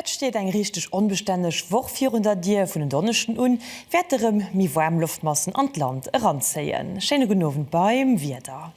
Et steet eng richteg onbestänneg Woch virun der Dier. Vun en Donneschden un wäerte rem méi waarm Loftmassen an d'Land eranzéien. Schéine gudden Owend beim Wieder.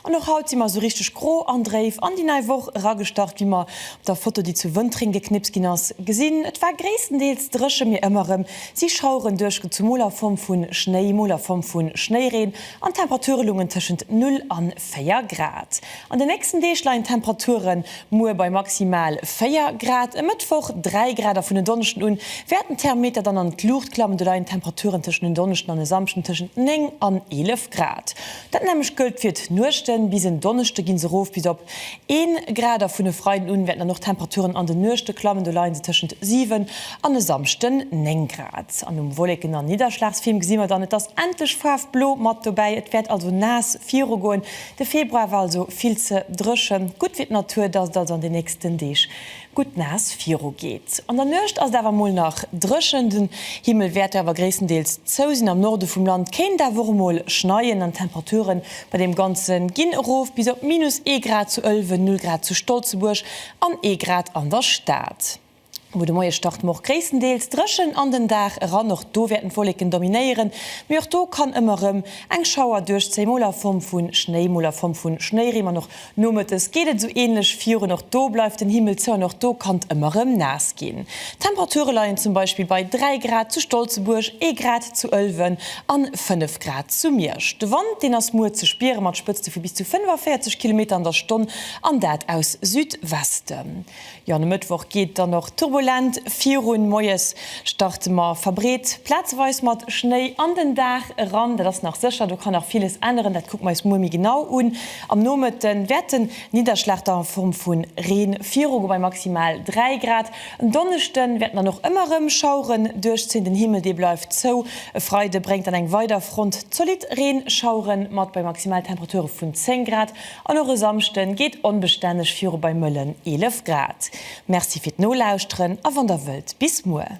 An och haut si mer esou richteg gro an dréif an déi nei Woch eragestart, wéi mer op der Foto, déi zu Wëntreng geknipst ginn ass, gesinn. Et war gréisstendeels dréche, mee ëmmer erëm si Schaueren duerchgezu, mol a Form vu Schnéi, mol a Form vu Schnéireen, an d'Temperature loungen tëschent 0 a 4 Grad. An de nächsten Deeg leien d'Temperature muer bei maximal 4 Grad, e Mëttwoch 3 Grad a vun en Donneschden u wäerten d'Thermometer dann an d'Luucht klammen. Do leien d'Temperature tëschent en Donneschden an e Samschden tëschent 9 an 11 Grad. Dat nämmlecht gëllt fir d'Nuechten. Bis en Donneschde gi se erof bis op 1 Grad a vun e Freiden un wäerten dann och d'Temperaturen an de Nuechte klammen. Do leie se tëschent 7 an e Samschden 9 Grad. An um Wolleken a Nidderschlagsfilm gesi mer dann, et ass endlech Faarf Blo mat dobäi. Et wäert also naass virugoen. De Februar war also vill ze dréchen. Gutt fir d'Natur, dass et also an den nächsten Deeg gutt naass viru geet. An der Nuecht ass et awer mol nach dréchen, den Himmel wäert awer gréisstendeels zou sinn. Am Norde vum Land kéint et awer och emol schneien an d'Temperature bei deem Ganze ginn erof bis op minus ee Grad zu Ëlwen, null Grad zu Stolzebuerg an ee Grad an der Stad. Wou de Moie start, Moch gréisstendeels dréchen an den Dag eran, och do wäerten d'Wolleken dominéieren, mee och do kann ëmmer erëm eng Schauer duerchzéien, mol a Form vu Schnéi, mol a Form vu Schnéireen an och Nomëttes geet et esou ähnlech vir un och do bleift den Himmel zou an och do kann et ëmmer rem naass ginn. D'Temperature leien zum Beispill bei 3 Grad zu Stolzebuerg, ee Grad zu Ëlwen an 5 Grad zu Miersch. De Wand deen ass muer ze spiere mat Spëtzte vu bis zu 45 Kilometer an der Stonn an dat aus Südwesten. Jo an e Mëttwoch geet dann och turbulent virun. Moies starte mer verbreet plazeweis mat Schnéi an den Dag eran. Dat ass nach sécher, do kann nach villes änneren, dat kucke mer eis muer méi genau un. Am Nomëtte wäert den Nidderschlag dann a Form vu Reen virugoe bei maximal 3 Grad. En Donneschde wäerten dann och ëmmer erëm Schaueren duerchzéien, den Himmel dee bleift zou. E Freide bréngt dann eng weider Front zolidd Reenschauere mat bei maximal Temperature vun 10 Grad. An och e Samschden geet onbestänneg viru bei mëllen 11 Grad. Merci fir d'Nolauschteren a wann der wëllt, bis muer.